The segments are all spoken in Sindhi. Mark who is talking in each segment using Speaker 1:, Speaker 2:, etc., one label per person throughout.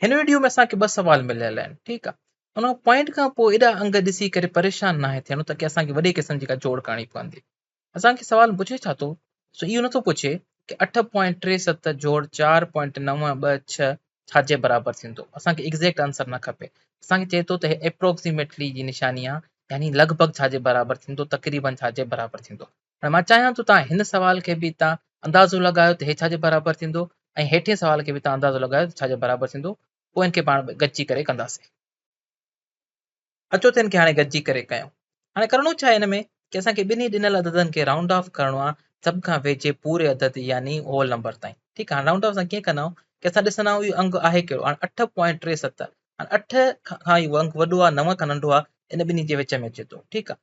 Speaker 1: هن وڊيو ۾ اسان کي ٻه سوال مليل آهن ٺيڪ آ ان پوائنٽ کان پوء ايڏا انگ ڏسي ڪري پريشان ناهي ٿيڻو تاڪي اسان کي وڏي قسم جي ڪا جوڙ ڪرڻي پوندي اسان کي سوال پڇي ڇا ٿو سو اهو نٿو پڇي ڪي اٺ پوائنٽ ٽي ست جوڙ چار پوائنٽ نو ٻه ڇهه ڇا جي برابر ٿيندو اسان کي ايگزيڪٽ آنسر نه کپي اسان کي چئي ٿو ته هي اپروڪسيميٽلي جي نشاني آ يعني لڳ ڀڳ ڇا جي برابر ٿيندو تقريبن ڇا جي برابر ٿيندو هاڻي مان چاهيان ٿو توهان هن سوال کي به اتان اندازو لڳايو ته هي ڇا جي برابر ٿيندو ۽ هيٺين سوال کي به اتان اندازو لڳايو ته ڇا جي برابر ٿيندو پوء هن کي پاڻ ۾ گڏجي ڪري ڪنداسين. اچو ته هن کي هاڻي گڏجي ڪري ڪيون. هاڻي ڪرڻو ڇا آهي هن ۾ ڪي اسان کي ٻنهي ڏنل عددن کي رائونڊ آف ڪرڻو آهي سڀ کان ويجهي پوري عدد يعني هول نمبر تائين ٺيڪ آهي هاڻي رائونڊ آف اسان ڪيئن ڪندا آهيون ڪي اسان ڏسندا آهيون اهو انگ آهي ڪهڙو هاڻي اٺ پوائنٽ ٽي ست هاڻي اٺ کان اهو انگ وڏو آهي نو کان ننڍو آهي ان ٻنهي جي وچ ۾ اچي ٿو ٺيڪ آهي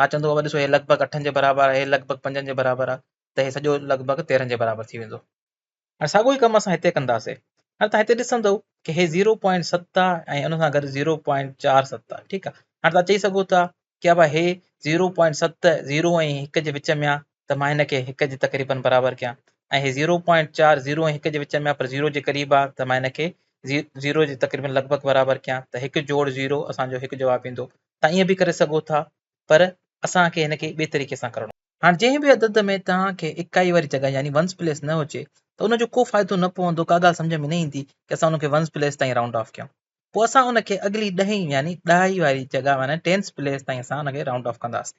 Speaker 1: آء چوندو بابا ڏسو هي لڳ ڀڳ اٺن جي برابر آهي، هي لڳ ڀڳ پنجن جي برابر آهي ته هي سڄو لڳ ڀڳ تيرهن جي برابر ٿي ويندو. هاڻي ساڳيو ئي ڪم اسان هتي ڪنداسين. هاڻي توهان هتي ڏسندؤ ته هي زيرو پوائنٽ ست آهي ۽ ان سان گڏ زيرو پوائنٽ چار ست آهي ٺيڪ آهي. هاڻي توهان چئي سگهو ٿا ته بابا هي زيرو پوائنٽ ست زيرو ۽ هڪ جي وچ ۾ آهي ته مان هن کي هڪ جي تقريبن برابر ڪيان ۽ هي زيرو پوائنٽ چار زيرو ۽ هڪ جي وچ ۾ آهي پر زيرو جي قريب آهي ته مان هن کي زيرو جي تقريبن لڳ ڀڳ برابر ڪيان ته هڪ جوڙ زيرو اسان جو هڪ جواب ايندو. تان ائين به ڪري سگهو ٿا پر اسان کي هن کي ٻئي طريقي سان ڪرڻو. هاڻ جنهن به عدد ۾ توهان کي اڪائي واري جڳهه يعني ونس پليس نه هجي ته ان جو ڪو فائدو نه پوندو ڪا ڳالهه سمجهه ۾ نه ايندي ڪي اسان ان کي ونس پليس تائين رائونڊ آف ڪيون پوء اسان ان کي اڳلي ڏهين يعني ڏهائي واري جڳهه يعني ٽينس پليس تائين اسان ان کي رائونڊ آف ڪنداسين.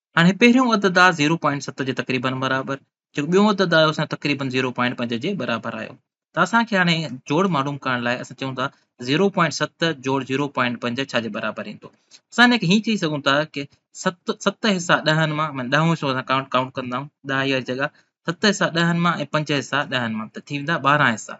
Speaker 1: هاڻي پهريون عدد آ زيرو پوائنٽ ست جي تقريبن برابر جيڪو ٻيون عدد آيو سان تقريبن زيرو پوائنٽ پنج جي برابر آيو ته اسان کي هاڻي جوڙ معلوم ڪرڻ لاء اسان چئون ٿا زيرو پوائنٽ ست جوڙ زيرو پوائنٽ پنج ڇا جي برابر ايندو اسان هن کي هيئن چئي سگهون ٿا ڪي ست ست حصا ڏهن مان معنی ڏهون حصو اسان ڪاؤنٽ ڪاؤنٽ ڪنداؤن ڏهائي واري جڳا ست حصا ڏهن مان ۽ پنج حصا ڏهن مان ته ٿي ويندا ٻارهن حصا